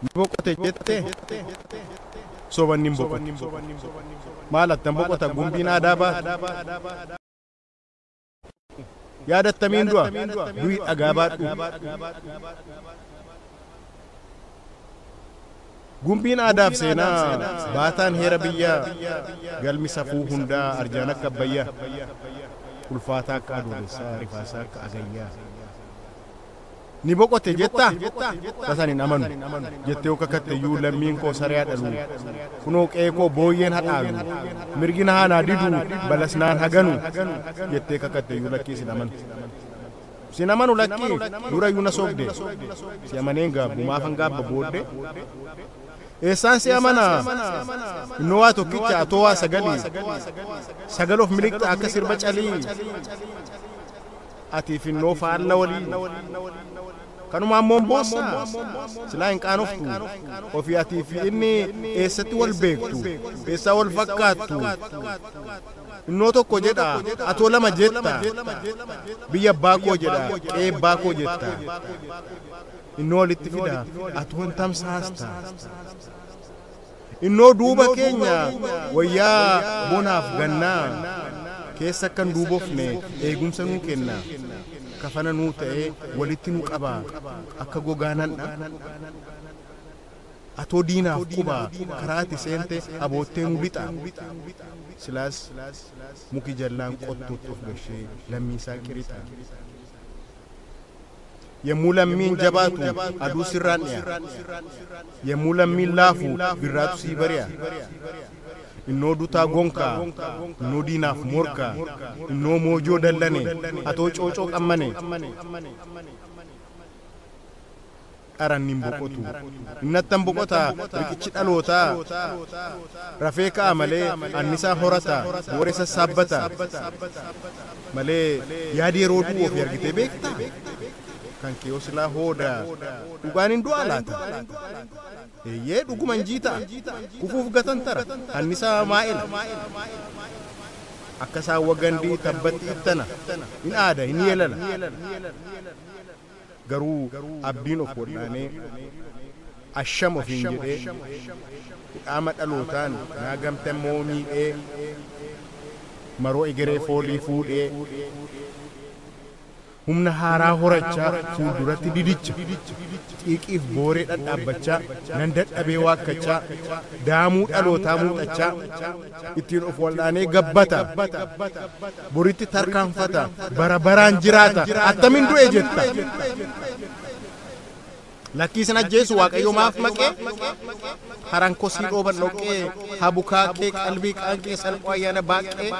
ni boqote jette sobanni hin boqotu maal attan boqota gumbiin aadaa baate Yaadattamiin du'a, du'i dhagaa baadhu. Gumbiin aadaaf seenaa, baataan heera biyyaa, galmi safuu hundaa, arjaan akka abbayyaa, ulfaataa akka adoolessaa, rifaasaa akka agayyaa. Ni boqote jetta? Tasan hin amanu, jettee yoo kakatte iyyuu lammiin koo saree haa dhalu, kunoo qe'ee koo booyyeen haa dhaalu, mirgi na haa naa didu, balas naan haa ganu, jettee kakatte iyyuu lakkii sin amanu. Sin amanu lakkii, dura iyyuu na sobde, si amanee hin gaabbu, maafan gaabba booddee? Eessaan si amana? Innoo waa tokkicha, atoo waa sagali, sagal of miliqxa akka sirba calii. Ati finnoo faalla walii Kanumaan moon boossa Silaa hin qaanoftu Ofii atii fi inni Eessatti wal beektu Eessaa wal fakkaattu Finnoo tokko jedha Atoo lama jetta Biyya abbaa koo jedha Qe'ee abbaa koo jetta Finnoo walitti fida Atoo hin tamsaasta Innoo duuba keenya wayyaa bonaaf gannaa keessa akka hin duubofne eegumsa nuu kenna, kafana nuu ta'ee walitti nu qaba akka gogaa nandha. Atoo diinaaf quba karaa ati seente aboottee nu lixa. Silaas muki jallaan qottuutti of gashee lammii isaa qirixa. Yommuu lammiin jabaatu aduu sirraan dhiya. Yommuu lammiin laafu birraatu sii bari'a. Innoo dutaa gonkaa, innoo diinaaf morkaa, innoo moojoo dallane, atoo coocoo qammane. dharan nin boqotu. Inni attam boqota, riqichi dhalootaa rafee ka'a malee annisaa horata, booree sassaabbata malee yaadi yeroo du'u ofii argitee beektaa? Kan kee hoo silaa hooda dhugaan hin du'aa laata? Eeyyee dhuguma hin jiita'a. Kufuuf gatantara, annisaa maa'ela. Akka saawwa gandii tabbatti ittana, hin aada, hin yeelala. Garuu abdiin of waldhaanee asham ofiin jedhee hudhaama dhalootaan naa gamte ammoo miidhee maroo egeree foolii fuudhee humna haaraa horachaa fuulduratti didicha xiiqiif booree dhadhaabbachaa nan dadhabee waakkachaa daamuu dhalootaa muuxachaa ittiin of wal'aanee gabbata, boritti tarkaanfata, bara baraan jiraata, attamin du'e jetta? Lakkii sin ajjeesu Waaqayyo maaf maqee? Haraan kosii dhooban dhoqqee, habukaakee, qalbii qaanqee, salphoo ayyaana baaqqee.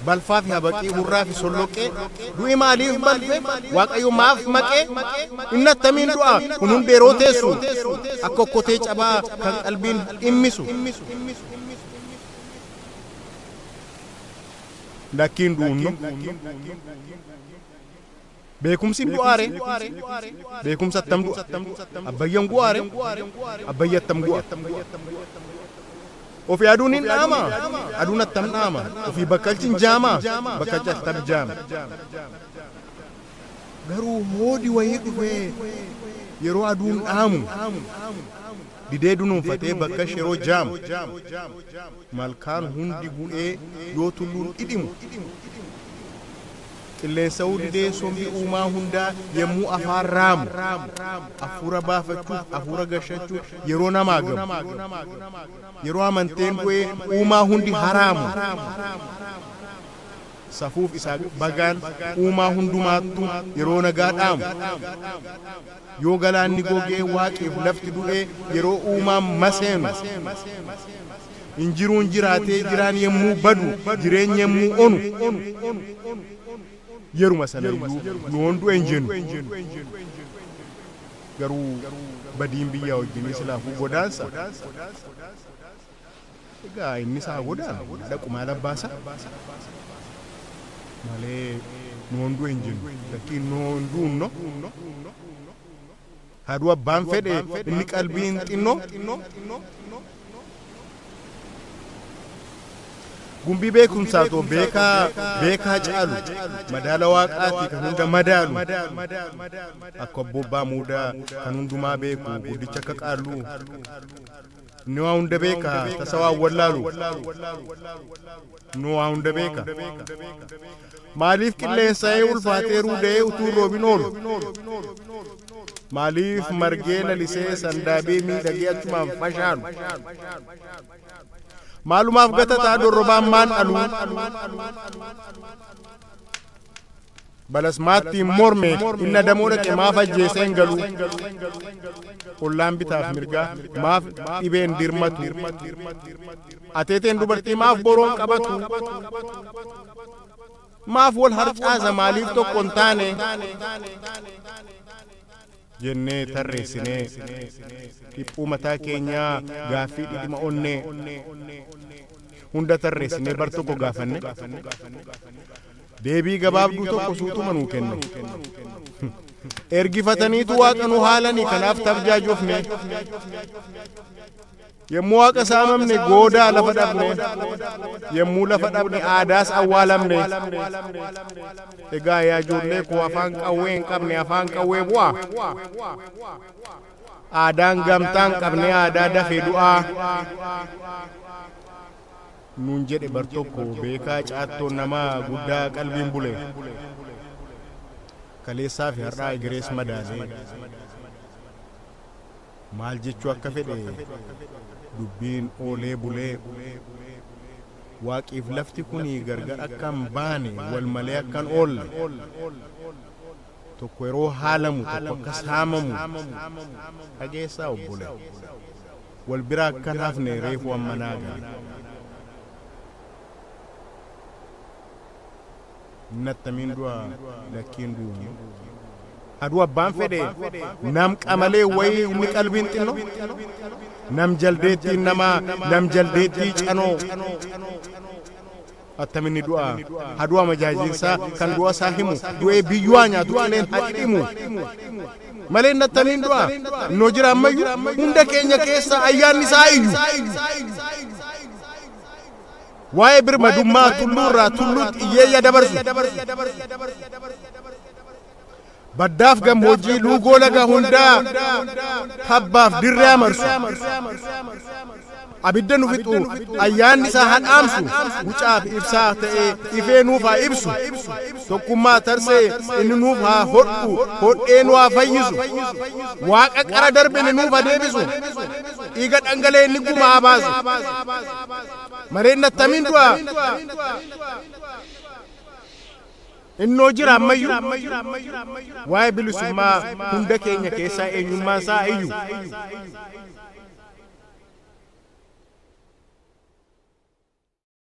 balfaafi habaqii, hurraafi solloqqee, du'i maaliif balfe, Waaqayyo maaf maqee, inni attamiin du'a, kun hundi yeroo teessu, akka okkotee cabaa kan qalbiin dhimmisu. Lakki hin du'unno. Beekumsin du'aa ree? Beekumsi attam du'a? Abbayyan gu'aa ree? Abbayyi attam gu'a? Ofi aduun hin dhaama? Aduun attam dhaama? Ofii bakkalchi hin jaama? Bakkalchi attam jaama? Garuu hoodi wayii dhufee yeroo aduun dhaamu didee dunuunfatee bakkalchi yeroo jaamu malkaan hundi gu'ee yoo tulluun dhidhimu Qilleensa'uu didee sombi uumaa hundaa yemmuu afaan raamu, affuura baafachuuf, afuura gashachuuf yeroo namaagamu, yeroo amanteen bu'ee uumaa hundi haraamu, safuuf isaa bagaan uumaa hundumaattuu yeroo nagaa dhaamu, yoo galaanni gogee waaqif lafti du'ee yeroo uumaan maseenu, Hin jiruun jiraatee jiraan yemmuu badu, jireenyi yemmuu onu, yeruma sanayyuu yoon du'e hin jennu. Garuu badiin biyyaa wajjinii silaafuu godaansa. Egaa innis haa godaanu, haa dhaqu maal abbaasaa? Malee noon du'e hin jennu. Lakkii noon du'unno. Haa du'u abbaan fedhe inni qalbiin xinnoo. Gumbii beekumsaa too beekaa beekaa caalu madaala waaqaati kan hunda madaalu akka obbo Abbaa Muudaa kan hundumaa beeku guddicha akka qaalluu. Inni waa hunda beeka, tasa waa hin wallaalu. Inni waa hunda beeka. Maaliif qilleensa'ee ulfaatee ruuda'ee utuu hin roobin oolu? Maaliif margee lalisee sandaabee miidhagee achumaan fashaalu? Maalumaaf gatataa dorrobaan maan dhaluu? Balas maattiin mormeef inni adamoo dhaqe maaf ajjeesee hin galuu? Ollaan bitaaf mirgaa maaf dhibee hin dirmatu? Ateeteen dubartii maaf boroon qabatu? Maaf wal harcaasa maaliif tokko hin taane? jennee tarreessinee, dhiphuu mataa keenyaa, gaaffii dhidhima onnee hunda tarreessinee bar tokko gaafanne, deebii gabaabduu tokko suutuma nuu kenne. Ergifataniitu waaqa nu haalani kanaaf tabjaajofne. Yommuu Waaqa saamamne goodaa lafa dhabne, yommuu lafa dhabne aadaas awwaalamne. Egaa yaa ijoollee koo afaan qawwee hin qabne afaan qawwee bu'aa. Aadaan gamtaa hin qabne aadaa dafee du'aa. Nuun jedhe bar tokko beekaa caattoon namaa guddaa qalbiin bule. Kaleessaa fi har'aa egerees madaalee. Maal jechuu akka fedhe dubbiin oolee bulee. Waaqiif lafti kuni gargar akka hin baane wal malee akka hin oolle. Tokko yeroo haalamu tokko akka saamamu dhageessaa obbole. Wal bira akka hin hafne reefu amma naa gale. hin attamiin du'a lakkiin du'u haduu abbaan fedhe nam qamalee wayii inni qalbiin xinno nam jaldeettiin namaa nam jaldeettii canoo attaminni du'a haduu amajaajiinsaa kan du'a isaa himu du'ee biyyu'aa nyaatu qileen hadhimu malee inni attamiin du'a noo jira ammayyu hunda keenya keessa ayyaanni isaa iyyu Waa'ee birmadummaa tulluurraa tulluutti iyyeeyya dabarsu. Baddaaf gammoojjii luugoo laga hundaa tabbaaf dirree amarsu. Abidda nu fixu ayyaanni isaa haa dhaamsu gucaaf ibsaa ta'ee ifee nuuf haa ibsu. Tokkummaa tarsee inni nuuf haa hodhu hodhee nu haa fayyisu. Waaqa qara darbe inni nuuf haa deebisu. Dhiiga dhangalee inni gumaa haa baasu. Mareen nattamiin du'a. Innoo jira ammayyu. Waa'ee bilisummaa hunda keenya keessaa eenyummaan isaa iyyu.